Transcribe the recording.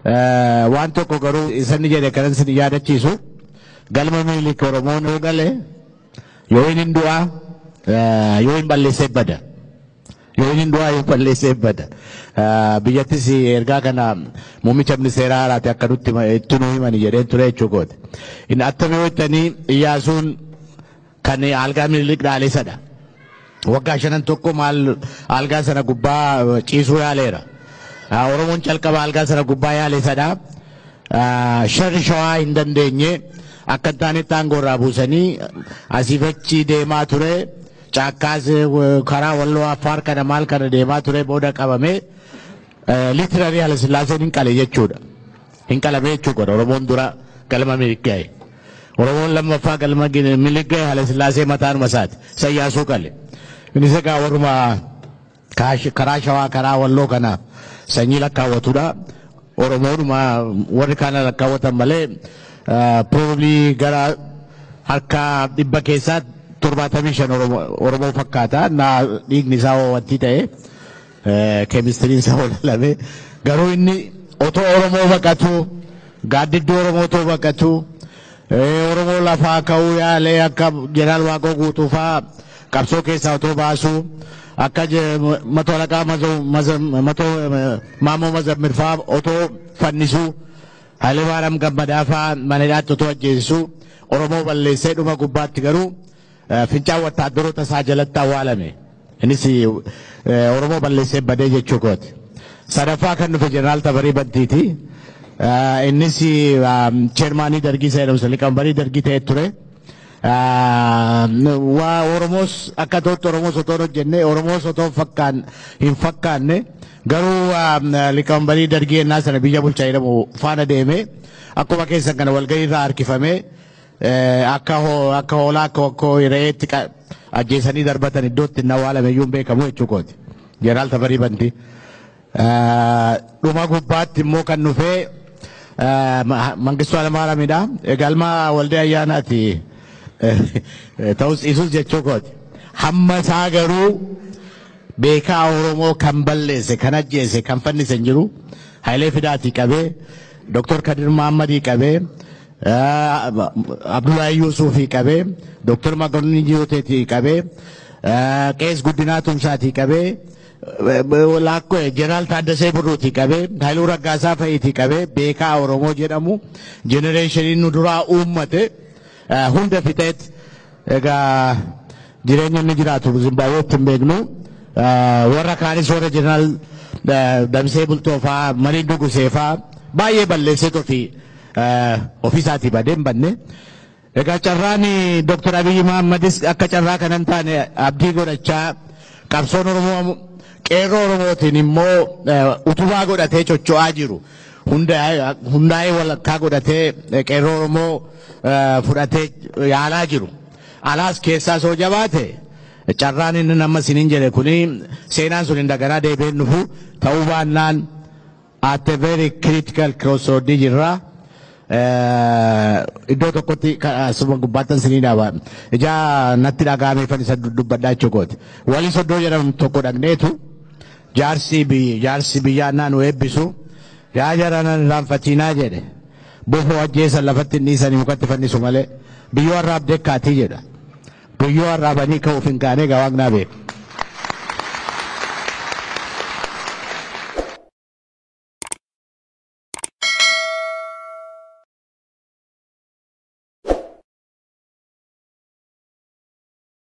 Eh, Waan tokko garuu isa inni jedhe kanan isin yaadachiisu galma Minilik Oromoon yoo gale yoo inni du'aa eh, yoo hin balleessee bada. Yoo inni du'aa yoo balleessee bada. Eh, Biyyattis ergaa kana muummicha ministeeraa haaraati akka nutti hima- itti nu himani jedheen ture jechuudha. Inni attami hojjetanii Iyyaasuun Kan algaa Minilik dhaalee sadha. Waggaa shanan tokko maal algaa sana gubbaa ciisuu yaaleera. Ah, Oromoon calqaba algaa sana gubbaa yaale sadha. Ah, Sharri shawaa hin dandeenye akka hin taanetti aangoo irraa buusanii asiif achi deemaa ture. Caakkaas eh, karaa walloo affaar kana maal kana deemaa ture booda qabame. Literary Halasillaaseen hin qale jechuudha. Hin qalame jechuu godha. Oromoon dura galma Minilik gahe. Oromoon lammaffaa galma Gin- Minilik gahe Halasillaasee mataanuma isaati. Isa Iyaasuu qale. Innis egaa warruma kaash- karaa shawaa karaa walloo kana sanyii lakkaawwatudha. Oromoodhuma warri kaana lakkaawwatan malee ah, probably gara harka dhibba keessaa torbaatamii shan Oromoo Oromoo fakkaata. Naa dhiigni isaa hoo wanti ta'e. Keemistiriin isaa walaalame. Garuu inni otoo Oromoo baqatuu, gaaddidduu Oromoo otoo baqatuu, Oromoo lafaa ka'uu yaalee akka Jeneraal Waaqoo Guutuu fa'aa qabsoo keessaa otoo baasuu, akka Mato Alaqaa Maammoo Mazammir fa'aa otoo fannisuu, Hayilemaariyaam Gammadaa fa'aa mana hidhaatti otoo ajjeesisuu Oromoo balleessee dhuma gubbaatti garuu Fincaan wattaaddaroota isaa jalatti awwaalame. Innis eh, Oromoo balleessee badee jechuu kooti. Sadaffaa kan dhufe Jeneraal Tafarii Bantiiti. Eh, Innis ah, cheermaanii dargii isa jedhamu liqambarii dargii ta'e ture. Ah, Waa Oromoos akka ta'utti Oromoos otoo hin hojjenne Oromoos otoo hin fakkaan hin fakkaanne garuu ah, liqambarii dargii ennaa sana biyya bulchaa jedhamu faana deemee akkuma keessan kana walgahii irraa harkifamee Eh, akka ho- akka hoolaa akka wakkoo re'eetti qa- ajjeesanii darbatan iddootti inni awwaalame iyyuu hin beekamu jechuu kooti. Jeneraal Tafarii Bantii. Eh, Dhuma gubbaatti immoo kan dhufee eh, Ma- Mangistuu Alamaaramiidha. Galma Waldee Ayyaanaati. Eh, Ta'us dhiisus jechuu kooti. Hamma isaa garuu beekaa Oromoo kan balleesse, kan ajjeese, kan fannise hin jiru. Hayilee Fidaatii qabee, Dooktor Kadir Mahammadii qabee, Abdullahi Yuusuufii qabee Dooktar Makonnin Jiyooteetii qabee Qees Guddinaa Tumsaatii qabee Laakkoo Jeneraal Taaddasee Birruutii qabee Haayiluu Raggaasaa fa'iitii qabee beekaa Oromoo jedhamu jenereeshiniin nu duraa uummate hunda fixeet egaa Jireenya inni jiraatu Zimbaabuweetti hin beeknu. Warra kaanis warra jeneraal Damsee Bultoo faa, Marii Dugusee faa baay'ee balleesseet ofii ofiisaatii badee hin badne. Egaa carraan Dr. Abiyyi Mahammadis akka carraa kana hin taane abdii godhachaa qabsoon Oromoo qeerroo Oromootiin immoo utubaa godhatee chocho'aa jiru. Hundaa'ee walakkaa godhatee qeerroo Oromoo fudhatee yaalaa jiru. Alaas keessaa soo jabaate carraan inni amma sinin jedhe kuni seenaan sun indaganaa deebi'ee hin dhufu ta'uu baannaan at a very critical crossroad jirra. Eh, Iddoo tokkotti ka- asuma gubbaattan sinii dhaaba. Ijaa natti dhaga'ameefan isa dubbadhaa jechuukooti. Walii soddoo jedhamu tokko dhaqneetu Jaarsii biy jaarsi biyyaa ennaa nu eebbisu, Yaa jara nan irraanfatiinaa jedhe. Bofoo ajjeesan lafatti hin dhiisanii mukatti fannisu malee. Biyyoo arraab dekkaatii jedha. Biyyoo arraabanii ka'uuf hin kaanee egaa Waaqnaa beeka.